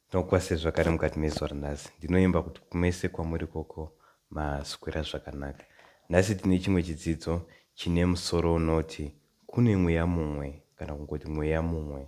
Ndinokukwasai zvakare mukati mezuva ranhasi. Ndinoimba kuti kumese kwamuri ikoko maswera zvakanaka. Nhasi tine chimwe chidzidzo chine musoro unoti Kune Mweya Mumwe kana kungoti Mweya Mumwe.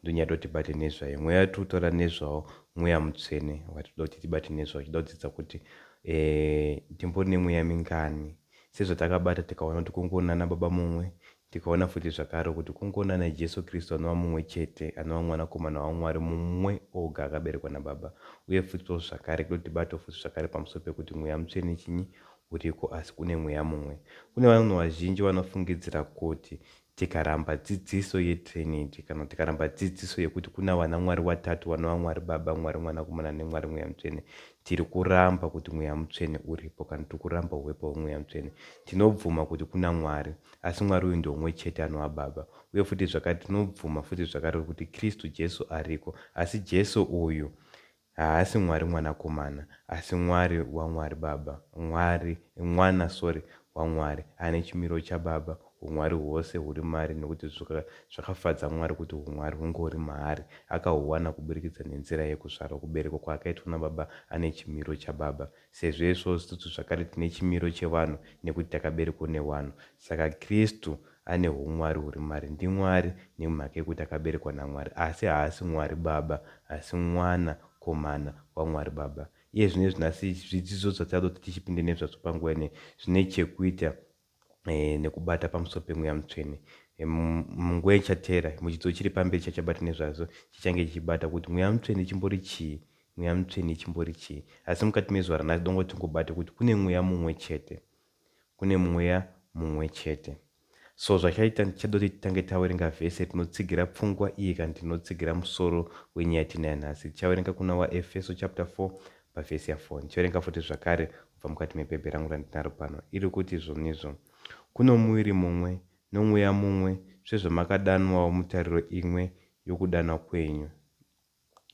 Ndonyada kuti tibate nezvaye. Mweya watiri kutaura nezvawo Mweya Mutsvene watinoda kuti tibate nezvawo. Tinoda kudzidza kuti eh, ndimbori nemweya mingani. Sezvatakabata tikaona kuti kungori nana Baba Mumwe, Tikaona futi zvakare kuti kungoona naJesu Kristu anova mumwe chete, anova Mwanakomana waMwari mumwe oga akaberekwa naBaba. Uye futi-wo zvakare kunotibatawo futi zvakare pamusoro pekuti Mweya Mutsvene chinyi? Uriko, asi une Mweya mumwe. Kune vanhu vazhinji vanofungidzira kuti tikaramba dzidziso yeTrinity, kana tikaramba dzidziso yekuti kuna vanaMwari vatatu vanova Mwari Baba, Mwari Mwanakomana neMwari Mweya Mutsvene, tiri kuramba kuti Mweya Mutsvene uripo, kana tiri kuramba huepo hweMweya Mutsvene. Tinobvuma kuti kuna Mwari. Asi Mwari uyu ndeumwe chete anova Baba. Uye futi zvakare tinobvuma futi zvakare kuti Kristu Jesu ariko. Asi Jesu uyu haasi Mwari Mwanakomana, asi Mwari waMwari Baba, Mwari, Mwana, sorry, waMwari, ane chimiro chaBaba, huMwari hwose huri maari nekuti zvakafadza Mwari kuti huMwari hunge huri maari, akahuwana kuburikidza nenzira yekuzvarwa, kuberekwa kwaakaitwa naBaba ane chimiro chaBaba. Sezvo isu isusu zvakare tine chimiro chevanhu nekuti takaberekwa newanhu, saka Kristu ane humwari huri maari. NdiMwari nemhaka yekuti akaberekwa naMwari, asi haasi Mwari Baba, asi Mwana komana waMwari Baba. Iye zvino izvi nhasi zvidzidzo zvatichatoti tichipinde nezvazvo panguva ineyi zvine chekuita eh, nekubata pamusoro pemweya mutsvene eh, munguva ichateera muchidzidzo chiri pamberi chachabata nezvazvo chichange chichibata kuti mweya mutsvene chimbori chii mweya mutsvene chimbori chii asi mukati mezuva ranhasi dongo tingobate kuti kune mweya mumwe chete kune mweya mumwe chete so zvachaita ndichadoti titange tawerenga vhese tinotsigira pfungwa iye kana tinotsigira musoro wenyaya tinayo nhasi tichawerenga kuna waefeso chapter 4 pavhesi ya4 ndichawerenga futi zvakare kubva mukati mepepe rangu randinaro pano, iri kuti, Izvonizvo kuno muviri mumwe, noMweya mumwe, sezvamakadanwawo mutariro imwe yokudanwa kwenyu.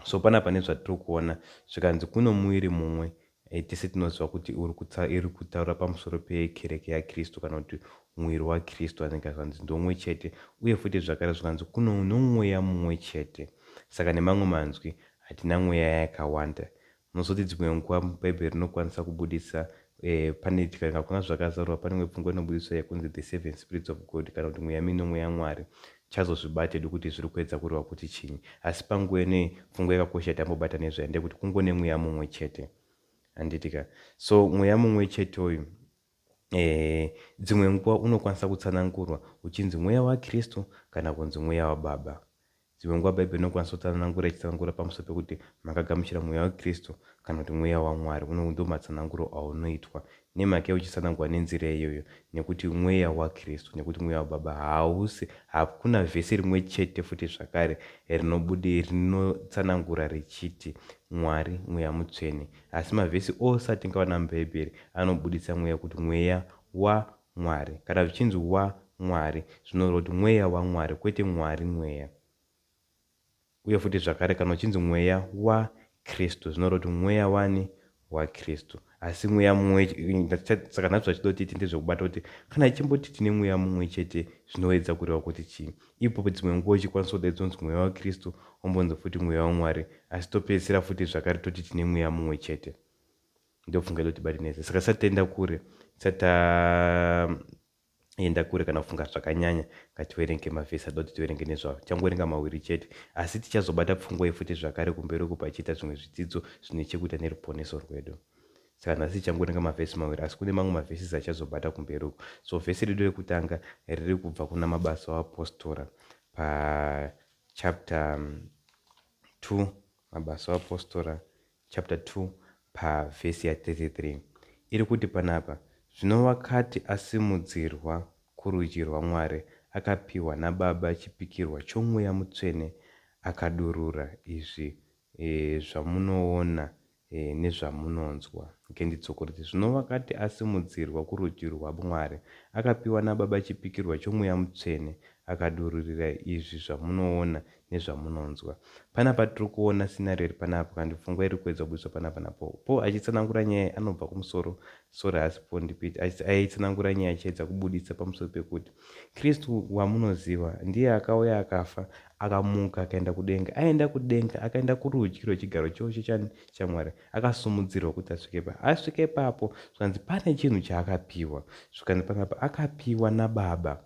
So, pana pane zvatiri kuona, zvikanzi, Kuno muviri mumwe. E, tese tinoziva kuti uri kutsa, iri kutaura pamusoro peKereke yaKristu, kana kuti Muviri waKristu, anenge zvanzi, Ndomwe chete. Uye futi zvakare zvikanzi, Kuno, noMweya mumwe chete. Saka, nemamwe manzwi, hatina Mweya yakawanda. Munozoti dzimwe nguva Bhaibheri rinokwanisa kubudisa pane kana kuna zvakazarurwa pane imwe pfungwa inobudiswa yekunzi the seven spirits of God kana kuti mweya minomwe yaMwari chazozvibata hedu kuti zviri kuedza kureva kuti chinyi asi panguva inoyi pfungwa yakakosha yatambobata nezvayo ndeyekuti kungone mweya mumwe chete handiti ka so mweya mumwe chete uyu Ehe, dzimwe nguva unokwanisa kutsanangurwa uchinzi Mweya waKristu kana kunzi Mweya waBaba. Dzimwe nguva Bhaibheri rinokwanisa kutsanangura ichitsanangura pamusoro pekuti makagamuchira Mweya waKristu kana kuti Mweya waMwari. Uno ndiwo matsananguro aunoitwa. Nei mhaka yei uchitsanangurwa nenzira iyoyo? Nekuti Mweya waKristu, nekuti Mweya waBaba hausi, hakuna vhesi rimwe chete futi zvakare rinotsanangura richiti Mwari, Mweya Mutsvene. Asi mavhesi ose atingawana muBhaibheri anobuditsa mweya kuti mweya wa Mwari. Kana zvichinzi wa Mwari, zvinoreva kuti mweya wa Mwari, kwete Mwari mweya. Uye futi zvakare kana uchinzi mweya wa Kristu, zvinoreva kuti mweya wani? Wa Kristu. Asi mweya mumwe, saka nhasi zvatinoda kuti tiite ndezvekubata kuti kana ichimboti tine mweya mumwe chete zvinoedza kureva kuti chii. Ipapo dzimwe nguva uchikwanisa kudaidzwa kunzi Mweya waKristu, wombonzi futi Mweya waMwari, asi topedzisira futi zvakare toti tine Mweya mumwe chete. Ndopfungwa inotibatinetsa. Saka tisati taenda kure, tisati taenda kure kana kufunga zvakanyanya, ngativerenge mavhesi atoda kuti tiverenge nezvawo. Tichangoverenga maviri chete, asi tichazobata pfungwa iyi futi zvakare kumberi uko pachiita zvimwe zvidzidzo zvine chekuita neruponeso rwedu. Saka nhasi tichangoverenga mavhesi maviri asi kune mamwe mavhesis achazobata kumberi uku. So vhesi redu rekutanga riri kubva kuna Mabasa oApostora pachapter 2, Mabasa oApostora chapter 2 pavhesi ya 33. Iri kuti panapa, Zvino wakati asimudzirwa kurudyi rwaMwari, akapiwa naBaba chipikirwa choMweya Mutsvene, akadurura izvi zvamunoona nezvamunonzwa. Ngenditsokorede. Zvino wakati asimudzirwa kurudyi rwaMwari, akapiwa naBaba chipikirwa choMweya Mutsvene, akadururira izvi zvamunoona nezvamunonzwa. Pane apa tiri kuona scenario iri panapa kana kuti pfungwa iri kuedza kubudiswa panapa naPaul. Paul achitsanangura nyaya iyi anobva kumusoro, sorry haasi Paul ndi Peter, achiti aitsanangura nyaya achiedza kubuditsa pamusoro pekuti Kristu wamunoziva ndiye akauya akafa Akamuka akaenda kudenga. Aenda kudenga, akaenda kurudyi rwechigaro chose chani? chaMwari. Akasumudzirwa kuti asvike pa. Asvika ipapo, zvikanzi pane chinhu chaakapiwa. Zvikanzi panga pa, akapiwa naBaba.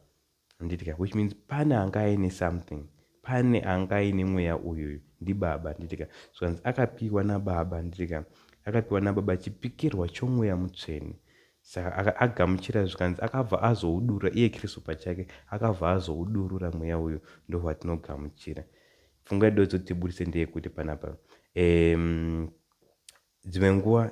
Handiti ka? Which means pane anga aine something. Pane anga aine mweya uyuyu. NdiBaba. Handiti ka? Zvikanzi akapiwa naBaba. Handiti ka? Akapiwa naBaba chipikirwa choMweya Mutsvene. Saka aka, agamuchira zvikanzi akabva azoudurura, iye Kristu pachake akabva azoudurura Mweya uyu, ndohwatinogamuchira. Pfungwa yedu yodzoda kuti tiburitse ndeyekuti panapa, um, dzimwe nguva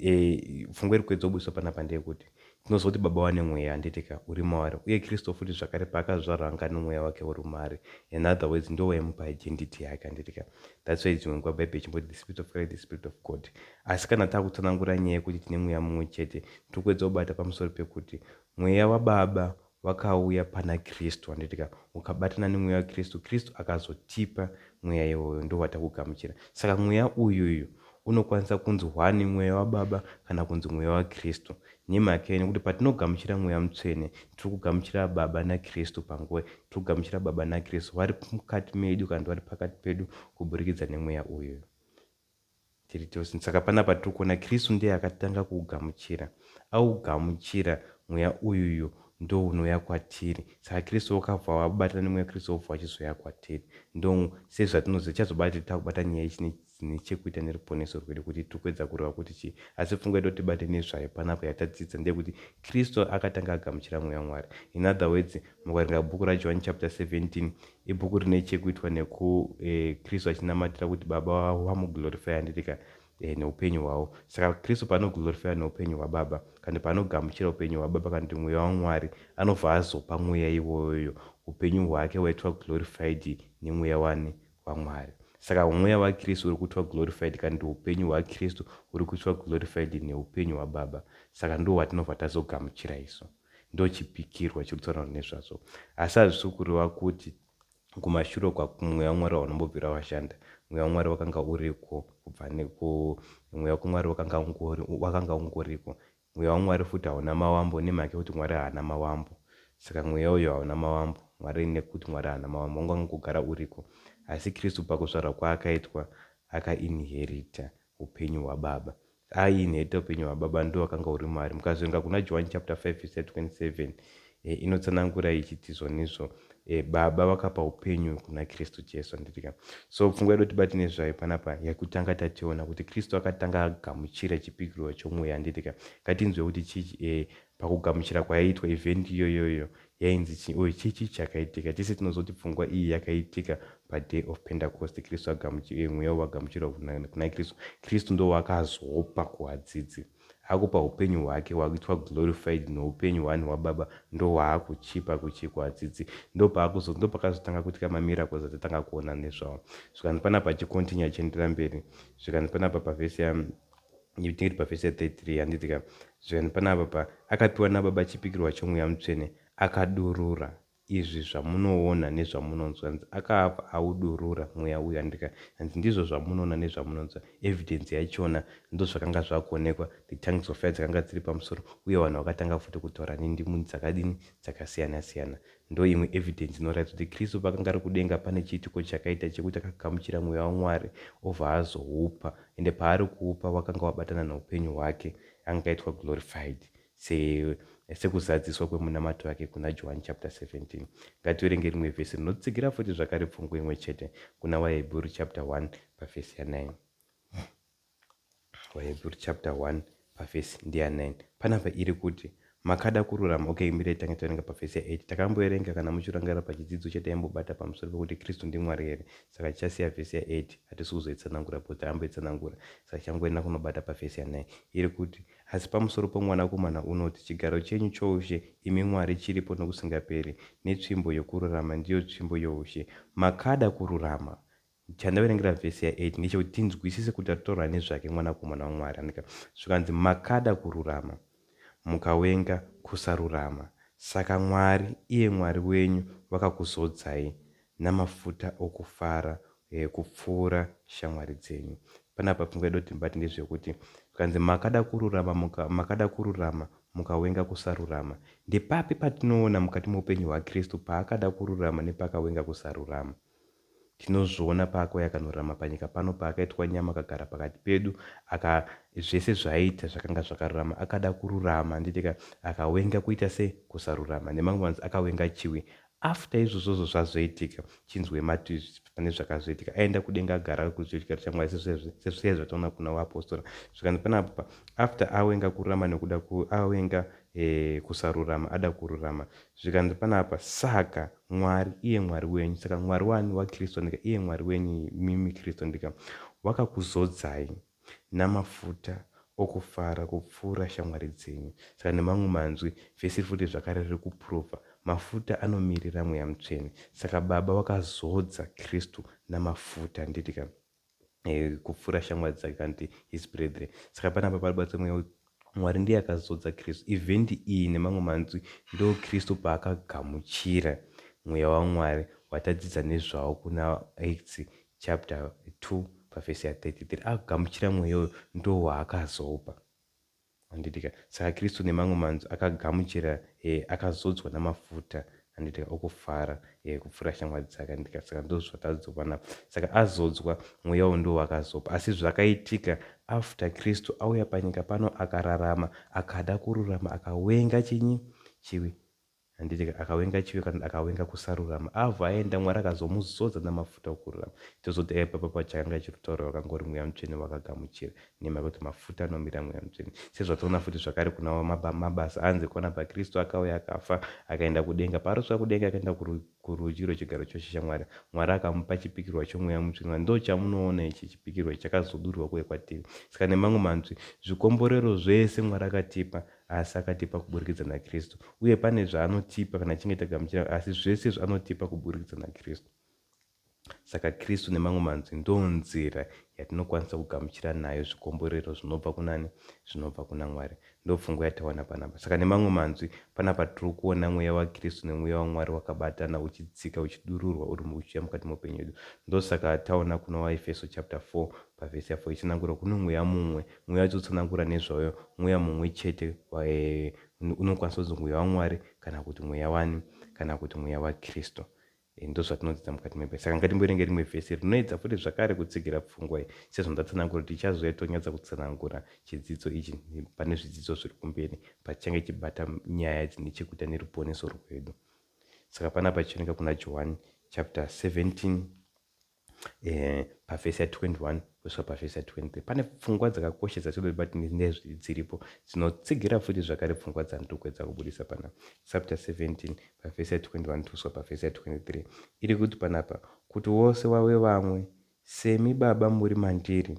e, pfungwa iri kuedza kubudiswa panapa ndeyekuti tinoziva kuti baba vane mweya handitika uri mavari uye kristu futi zvakare paakazvarwa anga ane mweya wake uri maari in other words ndiwo waimupa identity yake handitika that's why dzimwe nguva bhaibheri chimboti the spirit of christ the spirit of god Asi kana tava kutsanangura nyaya yekuti tine mweya mumwe chete, tiri kuedza kubata pamusoro pekuti Mweya waBaba wakauya pana Kristu, handitika? Ukabatana neMweya waKristu, Kristu akazotipa Mweya iwoyo, ndohwatakugamuchira. Saka Mweya uyuyu unokwanisa kunzi hwani Mweya waBaba kana kunzi Mweya waKristu. Nemhaka yei? Nekuti patinogamuchira Mweya Mutsvene, tiri kugamuchira Baba naKristu panguva, tiri kugamuchira Baba naKristu vari mukati medu kana kuti vari pakati pedu kuburikidza neMweya uyuyu. Tiri tose. Saka panapa tiri kuona Kristu ndiye akatanga kuugamuchira. Augamuchira, Mweya uyuyu ndounouya kwatiri. Saka Kristu vakabva vabatana neMweya Kristu vobva vachizoya kwatiri. Ndo, sezvatinoziva, tichazobata kuti tava kubata nyaya ichine dzine chekuita neruponeso rwedu, kuti tiri kuedza kureva kuti chii. Asi pfungwa yatoti tibate nezvayo panapa yatadzidza ndeyekuti Kristu akatanga agamuchira Mweya waMwari. In other words, mukaringa bhuku raJohani chapter 17, Ibhuku rine chekuitwa neku eh, Kristu achinamatira kuti Baba vavo vamuglorifaya handitika eh, neupenyu hwavo. Saka Kristu paanoglorifaya neupenyu hwaBaba kana paanogamuchira upenyu hwaBaba kana kuti mweya waMwari anobva azopa mweya iwoyoyo upenyu hwake waitwa glorified nemweya wani waMwari. Saka mweya waKristu uri kuitwa glorified kana kuti upenyu hwaKristu huri kuitwa glorified neupenyu hwaBaba. Saka ndiwo watinobva tazogamuchira isu. ndochipikirwa chiri kutaura nezvazvo asi hazvisi kureva kuti kumashure kwaku mweya wamwari waunombobvira washanda mweya wamwari wakanga uriko kubva neku mweya wamwari wakanga ungori wakanga ungoriko mweya wamwari futi hauna mawambo nemhaka yekuti mwari haana mawambo saka mweya uyo hauna mawambo mwari nekuti mwari haana mawambo wanga ungogara uriko asi kristu pakuzvarwa kwaakaitwa akainherita hupenyu hwababa ayi nhete hupenyu hwababa ndiwo wakanga uri maari mukazoenga kuna Johwani chapter 5 vhesi 27 e, inotsanangura ichiti zvonizvo e, baba vakapa hupenyu kuna kristu jesu handitika so pfungwa yedu tibati nezvayo panapa yakutanga tationa kuti kristu akatanga agamuchira chipikirwa chomweya handitika ngatinzwe kuti chii e, pakugamuchira kwayaitwa evhendi iyoyoyo Yainzi chii uye chii chii chakaitika? Tese tinoziva kuti pfungwa iyi yakaitika paDay of Pentecost, Kristu agamuchi, eh, Mweya wakamuchirwa kuna, kuna Kristu. Kristu ndiwo waakazopa kuwadzidzi. Akupa upenyu hwake hwakuitwa glorified noupenyu hwani hwaBaba ndohwaakuchipa kuchi, kuwadzidzi. Ndopaakuzo, ndopakazotanga kuitika mamiracles atatanga kuona nezvawo. Zvikanzi panapa achicontinue achienderera mberi, zvikanzi panapa pavhesi ya, ndiri pavhesi ya 33 handiti ka zvikanzi panapa pa akapiwa nababa chipikirwa chomweya mutsvene akadurura izvi zvamunoona nezvamunonzwa hanzi akaabva audurura mweya uyu handiti ka hanzi ndizvo zvamunoona nezvamunonzwa evidence yachona ndozvakanga zvakuonekwa the tongues of fire dzakanga dziri pamusoro uye vanhu vakatanga futi kutora nindimuni dzakadini dzakasiyana siyana Ndoimwe evidence inoratidza kuti Kristu paakanga ari kudenga pane chiitiko chakaita chekuti akagamuchira mweya waMwari obva azoupa ende paari kuupa wakanga wabatana noupenyu hwake. Anga aitwa glorified se sekuzadziswa kwemunamato yake kuna Johani chapter 17. Ngativerenge rimwe vhesi rinotsigira futi zvakare pfungwa imwe chete kuna Vahebheru chapter 1 pavhesi ya 9. Vahebhuru chapter 1 pavhesi ndiya 9 panapa iri kuti makada kururama okay mirai tange taverenga pavhesi ya 8 takamboverenga kana muchirangarira pachidzidzo chataimbobata pamusoro pekuti kristu ndimwari here saka tichasiya vhesi ya 8 hatisi kuzoitsanangura bcause taamboitsanangura saka tichangoenda kunobata pavhesi ya 9 iri kuti asi pamusoro pomwanakomana unoti chigaro chenyu choushe imi mwari chiripo nokusingaperi netsvimbo yokururama ndiyo tsvimbo youshe makada kururama Chandaverengera vhesi ya 8 ndechekuti tinzwisise kuti ataura nezvake Mwanakomana waMwari aneka zvikanzi, Makada kururama, mukawenga kusarurama, saka Mwari, iye Mwari wenyu, vakakuzodzai namafuta okufara kupfuura shamwari dzenyu. Panapa pfungwa yedu tinobati ndezvekuti zvikanzi, Makada kururama, muka, makada kururama, mukawenga kusarurama. Ndepapi patinoona mukati moupenyu hwaKristu paakada kururama nepakawenga kusarurama? Tinozviona paakauya akanorarama panyika pano, paakaitwa nyama akagara pakati pedu, aka, zvese zvaaiita zvakanga zvakarurama. Akada kururama, handitika? Akawenga kuita se, kusarurama. Nemamwe manzi, akawenga chiwi. After izvozvozvo zvazoitika, chinzwei mati, pane zvakazoitika. Aienda kudenga agara kurudyi rwechigaro chaMwari, sezvizvi, sezvizvi zvataona kuna waapostora. Zvikanzi pane apo pa, after awenga kururama nekuda ku, awenga, eh, kusarurama, ada kururama. Zvikanzi pane apa, saka. Mwari iye Mwari wenyu, saka Mwari waani? WaKristo ndika, iye Mwari wenyu imimi Kristo ndika, wakakuzodzai namafuta okufara kupfuura shamwari dzenyu. Saka nemamwe manzwi, vhesi iri futi zvakare riri kupuruvha, mafuta anomirira Mweya Mutsvene. Saka Baba wakazodza Kristo namafuta, handiti ka? eh, kupfuura shamwari dzake kana kuti his brethren saka panapa pari batsa mweya mwari ndiye akazodza kristu ivhendi iyi nemamwe manzwi ndo kristu paakagamuchira mweya wamwari watadzidza nezvawo kuna acts chapter 2 pavhesi ya 33 akagamuchira mweya uyo ndo waakazopa Handitika. Saka Kristu nemamwe manzwi akagamuchira e, akazodzwa namafuta, handitika, okufara e, kupfuura shamwari dzake, handitika, saka ndizvo zvatadzovana apa. Saka azodzwa, Mweya uyu ndiwo wakazopa. Asi zvakaitika, after Kristu auya panyika pano akararama, akada kururama, akawenga chinyi? Chivi. Handiti ka akawenga chivi kana akawenga kusarurama avo aenda Mwari akazomuzodza namafuta okururama chozoti aive papapa chakanga chirutaura wakangori mweya mutsvene wakagamuchira nemhaka yekuti mafuta anomira mweya mutsvene sezvatoona futi zvakare kuna mabasa anzi kwana bakristu akauya akafa akaenda kudenga paarosvika kudenga akaenda kurudyi rwechigaro chose chaMwari Mwari akamupa chipikirwa chomweya mutsvene ndochamunoona ichi chipikirwa ichi chakazodurwa kuuya kwatiri saka nemamwe manzwi zvikomborero zvese Mwari akatipa asi akatipa kuburikidza naKristu, uye pane zvaanotipa kana tichinge tagamuchira, asi zvese izvi anotipa kuburikidza naKristu. Saka Kristu nemamwe manzwi ndonzira yatinokwanisa kugamuchira nayo zvikomborero zvinobva kunani? Zvinobva kuna Mwari. Ndopfungwa yatawana panapa. Saka nemamwe manzwi, panapa tiri kuona mweya waKristu nemweya waMwari wakabatana uchidzika uchidururwa uri uchiuya mukati meupenyu hwedu. Ndosaka taona kuna waEfeso chapter 4 pavhesi ya 4 itsanangura kuno mweya mumwe Mweya uchitotsanangura nezvayo mweya mumwe chete unokwanisa kunzi mweya waMwari kana kuti mweya wani kana kuti mweya waKristu. Eh, ndozvatinodzidza mukati mebhaibheri saka ngatimboerenge rimwe vhesi rinoedza futi zvakare kutsigira pfungwa iyi sezvo ndatsanangura kuti tichazouya tonyatsa kutsanangura chidzidzo ichi pane zvidzidzo zviri kumberi pachange chibata nyaya dzine chekuita neruponeso rwedu saka panapa chioneka kuna johani chapter 17 eh, pavhesi ya21 kusvika pavhesi ya23 pane pfungwa dzakakosha dzatinoda kuti batine dziripo dzinotsigira futi zvakare pfungwa dzandiri kuedza kubudisa panapa chapter 17 pavhesi ya21 kusvika pavhesi ya23 iri kuti panapa kuti wose wave vamwe semi baba muri mandiri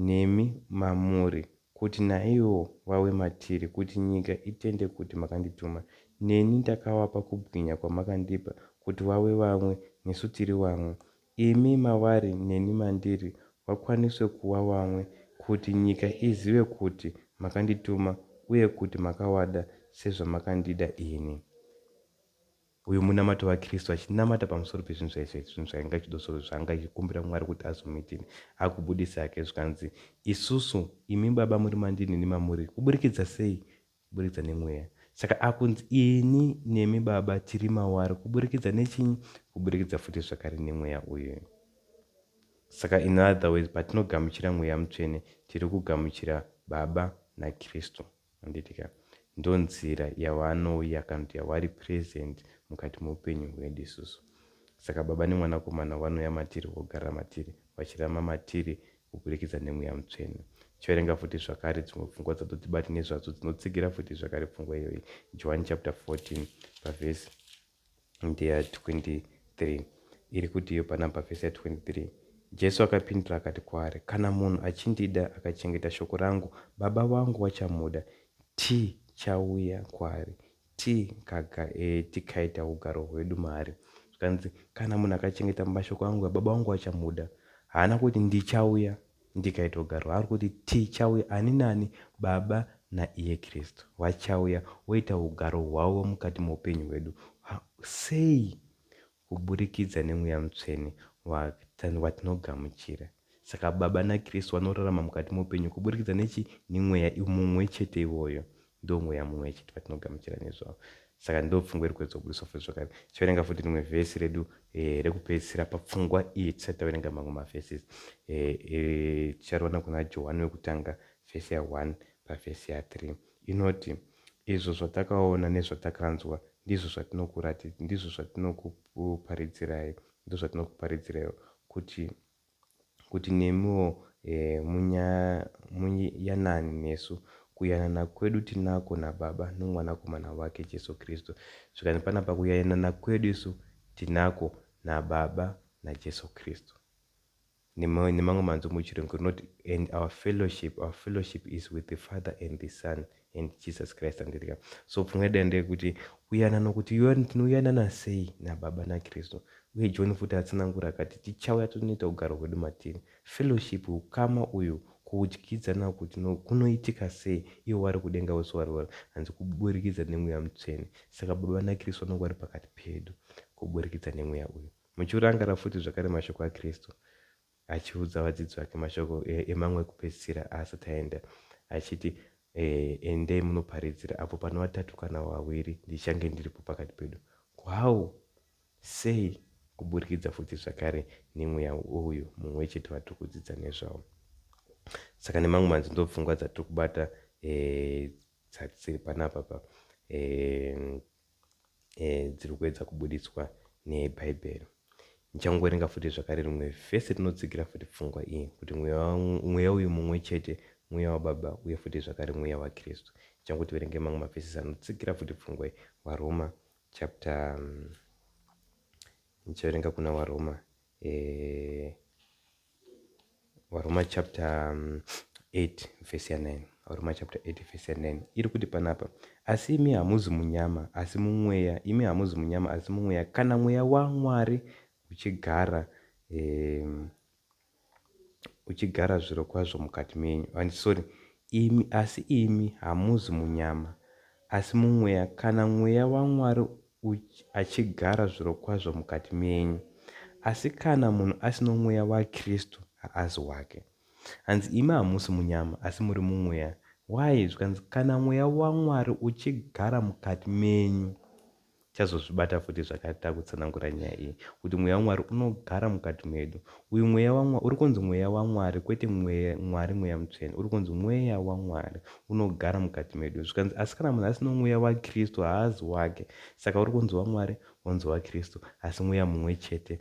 nemi mamuri kuti naivowo vawe matiri kuti nyika itende kuti makandituma. Neni ndakavapa kubwinya kwamakandipa kuti vawe vamwe nesu tiri vamwe, imi mavari neni mandiri vakwaniswe kuwa vamwe kuti nyika izive kuti makandituma uye kuti makavada sezvamakandida ini. Uyu munamato waKristu achinamata pamusoro pezvinhu zvaizvaizvo, zvinhu zvaanga achidosoro, zvaanga achikumbira Mwari kuti azomuitire, akubudisa hake zvikanzi, Isusu, imi Baba muri mandiri neni mamuri, kuburikidza sei? Kuburikidza neMweya. Saka akunzi ini nemi Baba tiri mawari kuburikidza nechinyi? Kuburikidza futi zvakare neMweya uyu. Saka in other words, patinogamuchira Mweya Mutsvene, tiri kugamuchira Baba naKristu. Handiti ka. Ndonzira yawanouya kana kuti yawari present mukati meupenyu hwedu isusu. Saka Baba neMwanakomana wanouya matiri wogara matiri, vachirarama matiri kuburikidza neMweya Mutsvene. Chiverenga futi zvakare dzimwe pfungwa dzatotibati nezvadzo dzinotsigira futi zvakare pfungwa iyoyi. Johani chapter 14 pavhesi. ndeya 23 iri kutiyo panapa vhesi ya 23 jesu akapindura akati kwaari kana munhu achindida akachengeta shoko rangu baba vangu vachamuda tichauya kwaari eh, tikaita e, ugaro hwedu maari zvikanzi kana munhu akachengeta mashoko angu baba vangu vachamuda haana kuti ndichauya Ndikaitogara waari kuti tichauya ani nani Baba naiye Kristu vachauya voita hugaro hwavo mukati moupenyu hwedu. Sei? Kuburikidza neMweya Mutsvene watinogamuchira. Saka Baba naKristu vanorarama mukati moupenyu kuburikidza nechi? Nemweya mumwe chete iwoyo. Ndomweya mumwe chete vatinogamuchira nezvawo. Saka ndopfungwa iri kuedzwa kubudiswa futi zvakare. Tichaverenga futi rimwe vhesi redu eh, rekupedzisira papfungwa iyi tisati taverenga mamwe mavhesis. Eh, eh, tichariwana kuna Johani wekutanga vhesi ya 1 pavhesi ya 3. Inoti, Izvo zvatakaona nezvatakanzwa ndizvo zvatinokurati, ndizvo zvatinokuparidzirai, ndizvo zvatinokuparidziraiwo, kuti kuti nemiwo muyanane nesu. Kuyanana kwedu tinako naBaba noMwanakomana wake Jesu Kristu. Zvikanzi panapa, kuyanana kwedu isu tinako naBaba naJesu Kristu. Nemamwe manzwi muchiRungu rinoti, And our fellowship, our fellowship is with the Father and the Son, and Jesus Christ andirika. So pfungwa yedu ndeyekuti kuyana nokuti tinoyanana sei naBaba naKristu. Uye John futi atsanangura akati tichauya tonoita ugaro hwedu matiri. Fellowship, ukama uyu, kudyidzana uku kunoitika sei ivo vari kudenga vose vari vari hanzi kuburikidza nemweya mutsvene. Saka Baba naKristu vanonga vari pakati pedu kuburikidza nemweya uyu. Muchiurangara futi zvakare mashoko aKristu. achiudza vadzidzi vake mashoko emangu ekupedzisira aasati aenda, achiti, E, endei munoparidzira, apo pane vatatu kana vaviri, ndichange ndiripo pakati pedu. How? Sei? Kuburikidza futi zvakare nemweya uyu mumwe wechete vatiri kudzidza nezvawo. Saka nemangu manzi ndopfungwa dzatiri kubata e, dziri panapa pa e, eh, dziri kuedza kubuditswa nebhaibheri ndichangoverenga futi zvakare rimwe vhesi rinotsigira futi pfungwa iyi kuti mweya uyu mumwe chete mweya wababa uye futi zvakare mweya wakristu ndichango tiverenge mamwe mavhesisi anotsigira futi pfungwa iyi varoma chapter ndichaverenga kuna varoma eh, varoma chapter 8 vhesi ya9 varoma chapter 8 vhesi ya9 iri kuti panapa asi imi hamuzi munyama asi mumweya imi hamuzi munyama asi mumweya kana mweya wamwari uchigara eh, uchigara zviro kwazvo mukati menyu and ah, sorry imi asi imi hamuzi munyama asi mumweya kana mweya wamwari uchi achigara zvirokwazvo mukati menyu. Asi kana munhu asino Mweya waKristu, haazi wake. Hanzi imi hamusi munyama, asi muri muMweya. Why? Zvikanzi kana Mweya waMwari uchigara mukati menyu. Tichazozvibata futi zvakare takutsanangura nyaya iyi, kuti Mweya waMwari unogara mukati medu. Uyu mweya waMwari, uri kunzi mweya waMwari kwete mweya, Mwari mweya mutsvene, uri kunzi mweya waMwari unogara mukati medu. Zvikanzi, asi kana munhu asina mweya waKristu haazi wake. Saka uri kunzi waMwari, wonzi waKristu, asi mweya mumwe chete.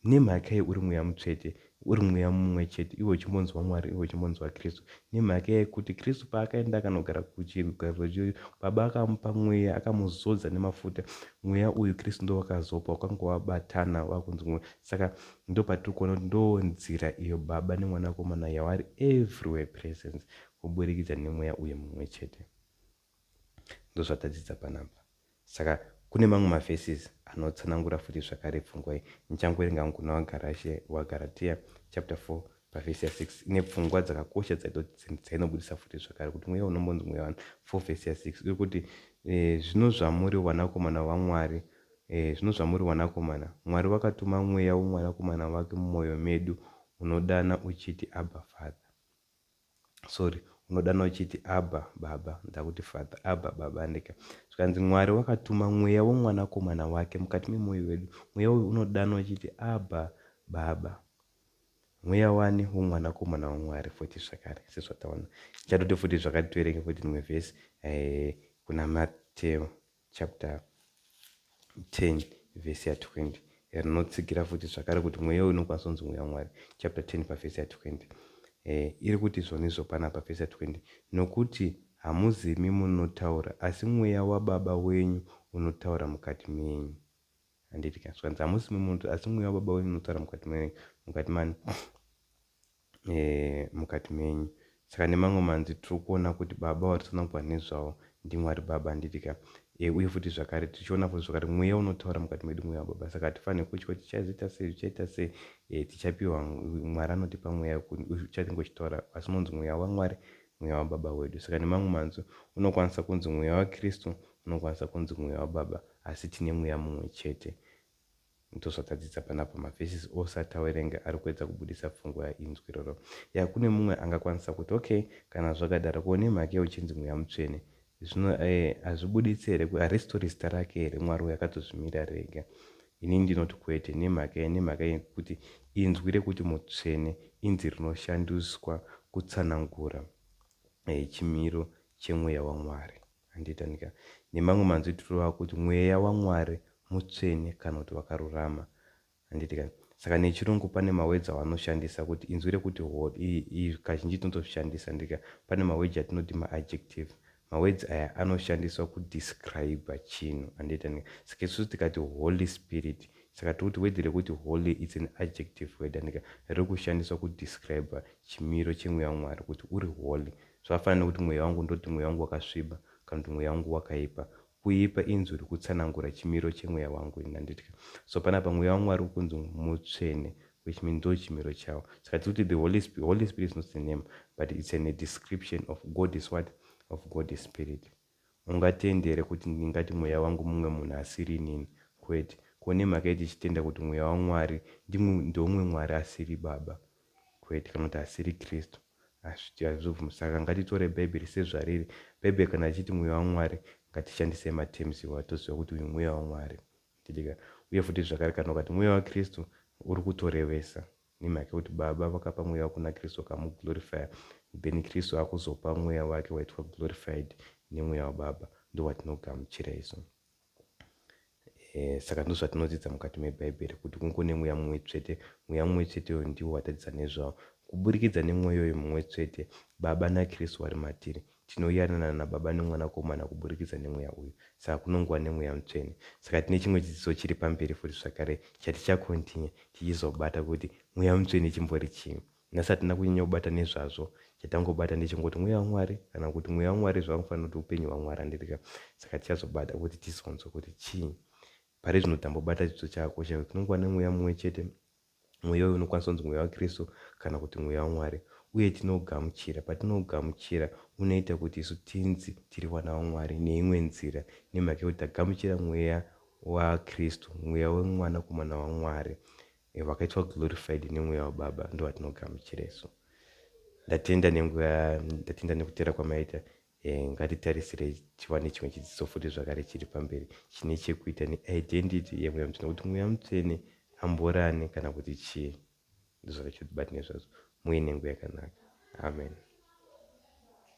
Nemhaka yei uri mweya mutsvete, uri mweya mumwe chete, iwe uchimbonzi waMwari, iwe uchimbonzi waKristu? Nemhaka yekuti Kristu paakaenda akanogara kuchigaro choushe, Baba vakamupa mweya, akamuzodza nemafuta. Mweya uyu Kristu ndowakazopa, wakanga wabatana, wakunzi mweya. Saka ndopatiri kuona kuti ndoo nzira iyo Baba neMwanakomana yawari everywhere presence kuburikidza nemweya uyu mumwe chete. Ndozvatadzidza panapa. Saka kune mamwe maverses anotsanangura futi zvakare pfungwa iyi. Ndichangoerenga hangu kuna waGarashe, waGaratia chapter 4 pavhesi ya 6 ine pfungwa dzakakosha dzainobudisa futi zvakare kuti mweya unombonzi mweya wani 4 vhesi ya 6 iri kuti e, zvino zvamuri vanakomana vaMwari Ehe zvino zvamuri wanakomana, Mwari wakatuma Mweya woMwanakomana wake mumoyo medu, unodana uchiti, Abba, Father. Sorry, unodana uchiti, Abba, Baba. Ndakuti Father, Abba, Baba, handika? Zvikanzi Mwari wakatuma Mweya woMwanakomana wake mukati memoyo wedu, Mweya uyu unodana uchiti, Abba, Baba. Mweya wani? WoMwanakomana waMwari, futi zvakare, sezvataona. Ndichatoti futi zvakati tiverenge futi rimwe vhesi, ehe, kuna Mateo. chapter 10 vhesi ya 20 rinotsigira futi zvakare kuti mweya uyu unokwanisa kunzi mweya wamwari chapter 10 pavhesi ya 20 eh, iri kuti izvonizvo pana pavhesi ya 20 nokuti hamuzimi munotaura asi mweya wababa wenyu unotaura mukati menyu handiti ka zvikanzi hamuzimi munotaura asi mweya wababa wenyu unotaura mukati menyu mukati mani mukati menyu saka nemamwe manzi tiri kuona kuti baba vatsanangurwa nezvawo ndimwari baba handitika e, uye futi zvakare tichiona futi zvakare mweya unotaura mukati medu mweya wababa saka hatifanire kutya kuti tichazoita sei zvichaita sei e, tichapiwa mwari anotipa mweya uchatenge uchitaura asi unonzi mweya wamwari mweya wababa wedu saka nemamwe manzi unokwanisa kunzi mweya wakristu unokwanisa kunzi mweya wababa asi tine mweya mumwe chete Ndozvatadzidza panapa ma verses ose atawerenga arikuedza kubuditsa pfungwa ya inzwi iroro. Yaa kune mumwe angakwanisa kuti ok kana zvakadaro ko nemhakei uchinzi mweya mutsvene zvino eh hazvibuditsi here ko harizitori zita rake here Mwari uyu akatozvimirira rega ini ndinoti kwete nemhakei nemhaka yekuti inzwi rekuti mutsvene inzi rinoshandiswa kutsanangura eh chimiro chemweya waMwari. Handiti, handiti ka? Nemamwe manzwi tinoreva kuti Mweya waMwari mutsvene kana kuti wakarurama. Handiti ka? Saka nechiRungu pane maweji avanoshandisa kuti inzwi rekuti holy, i, i, kazhinji tinotozvishandisa, handiti ka? Pane maweji atinoti maadjective. Maweji aya anoshandiswa kudescriber chinhu. Handiti, handiti ka? Saka isusu tikati Holy Spirit, saka tiri kuti weji rekuti holy it's an adjective word, handiti ka? Riri kushandiswa kudescriber chimiro cheMweya waMwari kuti uri holy. Zvakafanana nekuti mweya wangu ndoti mweya wangu wakasviba kana kuti mweya wangu wakaipa. Kuipa inzwi rikutsanangura chimiro chemweya wangu ini handitka. So panapa mweya wangu ari kunzi mutsvene which means ndo chimiro chawo. Saka tiri kuti the holy spirit, holy spirit is not a name but it's an a description of God is what? Of God is spirit. Haungatendi here kuti ndingati mweya wangu mumwe munhu asiri inini? Kwete. Ko nemhaka yei tichitenda kuti mweya waMwari ndimwe, ndeumwe Mwari asiri Baba? Kwete, kana kuti asiri Kristu. Hazviti, hazvibvume. Saka ngatitore Bhaibheri sezvariri. Bhaibheri kana richiti mweya waMwari, ngatishandisei matems iwayo toziva kuti uyu mweya waMwari. Uye futi zvakare, kana ukati mweya waKristu, uri kutorevesa. Nemhaka yekuti Baba vakapa mweya wavo kuna Kristu vakamu glorifyer then Kristu akuzopa mweya wake waitwa glorified nemweya waBaba ndowatinogamuchira isu saka ndozvatinodzidza mukati mebhaibheri kuti kungo nemweya mumwe tsvete mweya mumwe tsvete uyo ndiwo watadzidza nezvawo kuburikidza nemweya uyo mumwe tsvete baba nakristu vari matiri Tinowirirana naBaba neMwanakomana kuburikidza neMweya uyu. Saka kunongova neMweya Mutsvene. Saka tine chimwe chidzidzo chiri pamberi futi zvakare chaticha continue tichizobata kuti Mweya Mutsvene chimbori chii. Nhasi hatina kunyanya kubata nezvazvo. Chatangobata ndechekungoti Mweya waMwari kana kuti Mweya waMwari zvavanofanira kuti Upenyu hwaMwari handirika. Saka tichazobata kuti tizonzwa kuti chii. Parizvino tambobata chidzidzo chakakosha kuti tinongova neMweya mumwe chete. Mweya uyu unokwanisa kunzi Mweya waKristu kana kuti Mweya waMwari, uye tinougamuchira. Patinougamuchira, unoita kuti isu tinzi tiri vana vaMwari neimwe nzira, nemhaka yekuti tagamuchira Mweya waKristu, Mweya weMwanakomana waMwari. Vakaitwa glorified neMweya waBaba, ndovatonogamuchira isu. Ndatenda nenguva, ndatenda nekuteera kwamaita. Eh, ngatitarisirei chiva nechimwe chidzidzo futi zvakare chiri pamberi chine chekuita neidentity yemweya mutsvene kuti mweya mutsvene amborane kana kuti chii ndozvakaitwa kuti bati nezvazvo muve nenguva yakanaka amen